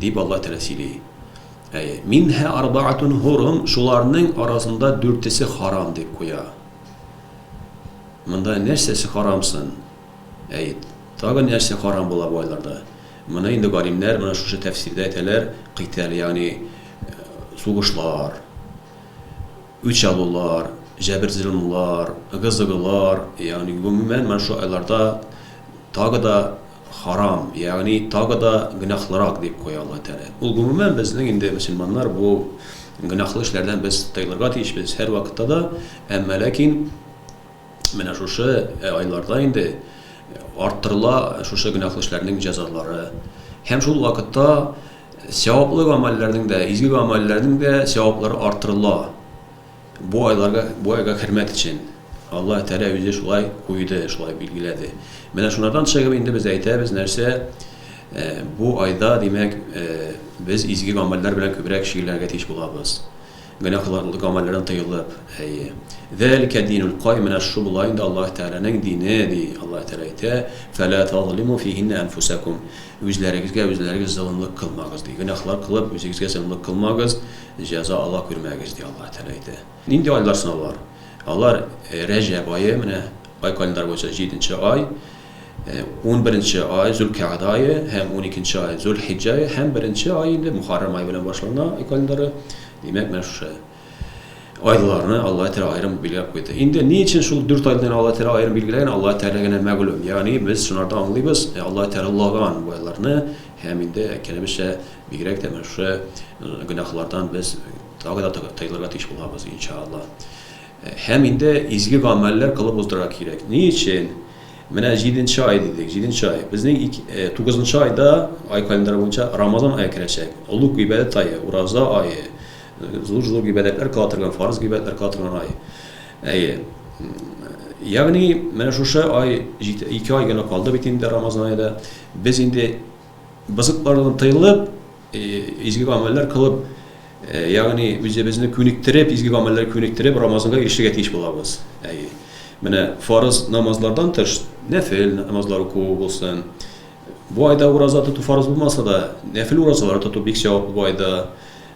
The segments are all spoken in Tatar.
Дип Аллаһ Тәгалә сөйли. Әй, минһа арбаатун хурум, шуларның арасында дүртесе харам дип куя. Монда нәрсәсе харамсын? Әй, тагын нәрсә харам була бу айларда? Моны инде галимнәр менә шушы тәфсирдә әйтәләр, кыйтәл, ягъни э, сугышлар. үч алулар, җәбер-золымлар, ыгы-зыгылар, ягъни гомумән менә шул айларда тагы да харам, ягъни тагы да гөнаһлырак дип куя Аллаһ Тәгалә. Ул гомумән безнең инде мөселманнар бу гөнаһлы эшләрдән без тыелырга тиешбез һәрвакытта да, әмма ләкин, Менә шушы айларда инде арттырыла шушы гөнаһлы эшләрнең җәзалары. Һәм шул вакытта сәваплы гамәлләрнең дә, изге гамәлләрнең дә сәваплары арттырыла. Бу айларга, бу айга хөрмәт өчен. Аллаһ Тәгалә үзе шулай куйды, шулай билгеләде. Менә шунардан чыгып инде без әйтәбез, нәрсә э, бу айда, димәк, э, без изге гамәлләр белән күбрәк шөгыльләнергә тиеш булабыз. Гөнаһлар гамәлләрдән тыелып, әйе. Залика динул каим, менә шу була инде Аллаһ Тәгаләнең дине, ди Аллаһ Тәгалә әйтә, фәлә тазлиму фиһиннә әнфүсәкум, үзләрегезгә үзләрегез золымлык кылмагыз, ди. Гөнаһлар кылып, үзегезгә золымлык кылмагыз, җәза ала күрмәгез, ди Аллаһ Тәгалә әйтә. Нинди айлар соң алар? Алар, Рәҗәб ае, менә ай календарь буенча җиденче ай. Унберенче ай, Зөлкәгъдә ае һәм уникенче ай, Зөлхиҗҗә ае һәм беренче ай инде Мухаррам ае белән башлана ай календаре. Димәк, менә шушы айларны Алла Тәгалә аерым билгеләп куйды. Инде ни өчен шул дүрт айны Алла Тәгалә аерым билгеләгән, Алла Тәгалә генә мәгълүм. Ягъни без шунардан аңлыйбыз, Алла Тәгалә улаган бу айларны һәм инде әйткәнебезчә, бигрәк тә менә шушы гөнаһлардан без тагы да тыелырга тиеш булабыз, иншаалла. Һәм инде изге гамәлләр кылып уздырырга кирәк. Ни өчен? Менә җиденче ай дидек, җиденче ай. Безнең тугызынчы айда, ай календаре буенча, Рамазан ае керәчәк. Олуг гыйбадәт ае, ураза ае, зур-зур гыйбадәтләр кыла торган, фарыз гыйбадәтләр кыла торган ай. Әйе. Ягъни, менә шушы ай, ике ай гына калды бит инде Рамазан ае да. Без инде Бозыклардан тыелып, изге гамәлләр кылып, ягъни үзебезне күнектереп, изге гамәлләр күнектереп, Рамазанга ирешергә тиеш булабыз. Әйе. Менә фарыз намазлардан тыш, нәфил намазлар уку булсын. Бу айда ураза тоту фарыз булмаса да, нәфил уразалар тоту бик сәваплы бу айда.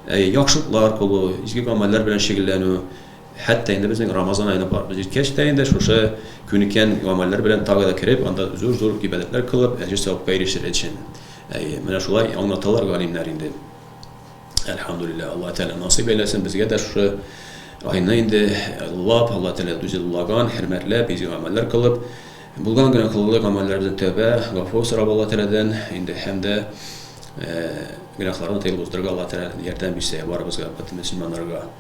Әйе, яхшылыклар кылу, изге гамәлләр белән шөгыльләнү. Хәтта инде безнең Рамазан аена барыбыз җиткәч тә инде шушы күнеккән гамәлләр белән тагы да кереп, анда зур-зур гыйбадәтләр кылып, әҗер-савапка ирешер өчен. Әйе, менә шулай аңлаталар галимнәр инде. Әлхәмдүлилләһ, Аллаһ Тәгалә насыйп әйләсен безгә дә шушы айны инде лап, Аллаһ Тәгалә дүзеллаган, хөрмәтләп, изге гамәлләр кылып, булган гөнаһлы гамәлләребезне тәүбә, гафу сорап Аллаһ Тәгаләдән инде һәм дә гөнаһлардан тыелып уздырырга Аллаһ Тәгалә ярдәм бирсә барыбызга, бөтен мөселманнарга.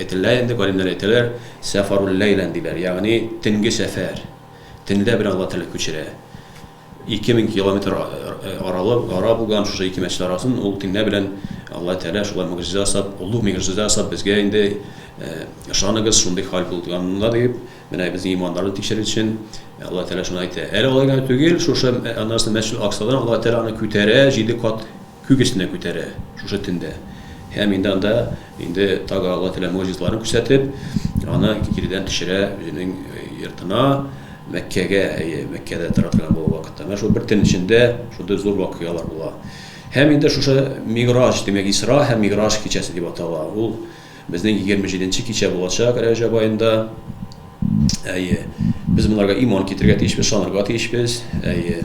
Әйтелә инде, галимнәр әйтәләр, сәфарул-ләйлән диләр, ягъни төнге сәфәр, төнлә белән Алла Тәгалә күчерә. Ике мең километр аралык, ара булган шушы ике мәчет арасын ул төнлә белән Алла Тәгалә шулай могҗиза ясап, олуг мигжиза ясап безгә инде ышаныгыз, шундый хәл булганда дип, менә безнең иманнарны тикшерер өчен Алла Тәгалә шуны әйтә. Әле алай гына түгел, шушы аннан соң Мәчетул-Аксадан Алла Тәгалә аны күтәрә, җиде кат Күк өстенә күтәрә шушы төндә. Һәм инде анда, инде тагы Алла Тәгалә могҗизаларын күрсәтеп, аны киредән төшерә үзенең йортына, Мәккәгә, әйе, Мәккәдә тора торган бу вакытта. Менә шул бер төн эчендә шундый зур вакыйгалар була. Һәм инде шушы Мигъраҗ, димәк, Исра һәм Мигъраҗ кичәсе дип атала. Ул безнең егерме җиденче кичә булачак Рәҗәб аенда. Әйе, без монарга иман китерергә тиешбез, ышанырга тиешбез. Әйе.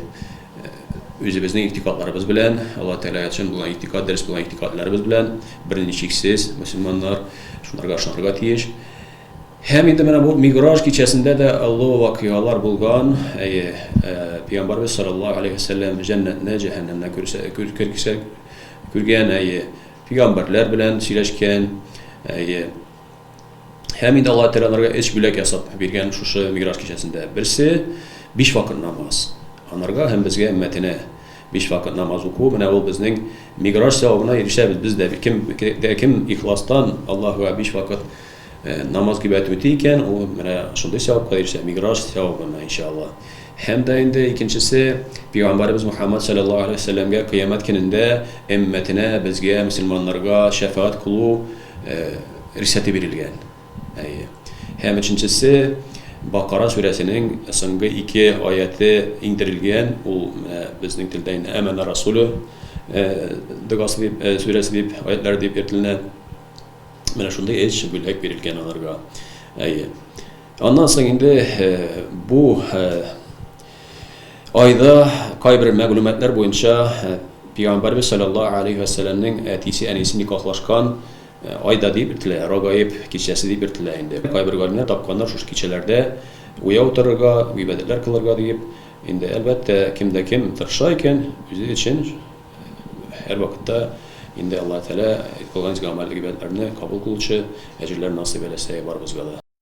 Үзебезнең игътикадларыбыз белән, Алла Тәгаләгә ятьшан булган игътикад, дөрес булган игътикадларыбыз белән, берничексез мөселманнар шуларга ышанырга тиеш. Һәм инде менә бу Миграж кичәсендә дә олы вакыйгалар булган. Әйе, Пәйгамбәрбез саллаллаһу алейһи вәсәлләм җәннәтне, җәһәннәмне күргән, әйе, пәйгамбәрләр белән сөйләшкән, әйе. Һәм инде Аллаһ Тәгаләгә өч бүләк ясап биргән шушы Миграж кичәсендә. Берсе биш вакыт намаз. Анарга һәм безгә өммәтенә биш вакыт намаз уку, менә ул безнең Миграж савабына ирешәбез. Без дә кем дә кем ихластан Аллаһуга биш вакыт э, намаз кибәт үти икән, ул менә шундый савапка ирешә, Миграж савабына иншалла. Һәм дә инде икенчесе Пәйгамбәрбез Мухаммад саллаллаһу алейһи ва сәлләмгә кыямәт көнендә өммәтенә, безгә, мөселманнарга шәфәгать кылу рөхсәте бирелгән. Әйе. Һәм өченчесе Бакара сүрәсенең соңгы ике аяты иңдерелгән, ул менә безнең телдә инде Әмәна Расулю догасы дип, сүрәсе дип, аятлар дип йөртелә. Менә шундый эш бүләк бирелгән аларга. Әйе. Аннан соң инде бу Айда кайбер мәгълүматлар буенча Пәйгамбәрбез саллаллаһу алейһи ва сәлләмнең әтисе әнисе никахлашкан айда дип бертелә, Рогаиб кичәсе дип бертелә инде. Кайбер галимнәр тапканнар шушы кичәләрдә уяу утырырга, гыйбадәтләр кылырга диеп. Инде әлбәттә, кем дә кем тырыша икән, үзе өчен һәр вакытта инде Аллаһы Тәгалә кылган изге гамәл гыйбадәтләрне кабул кылучы әҗерләр насыйп әйләсә барыбызга да.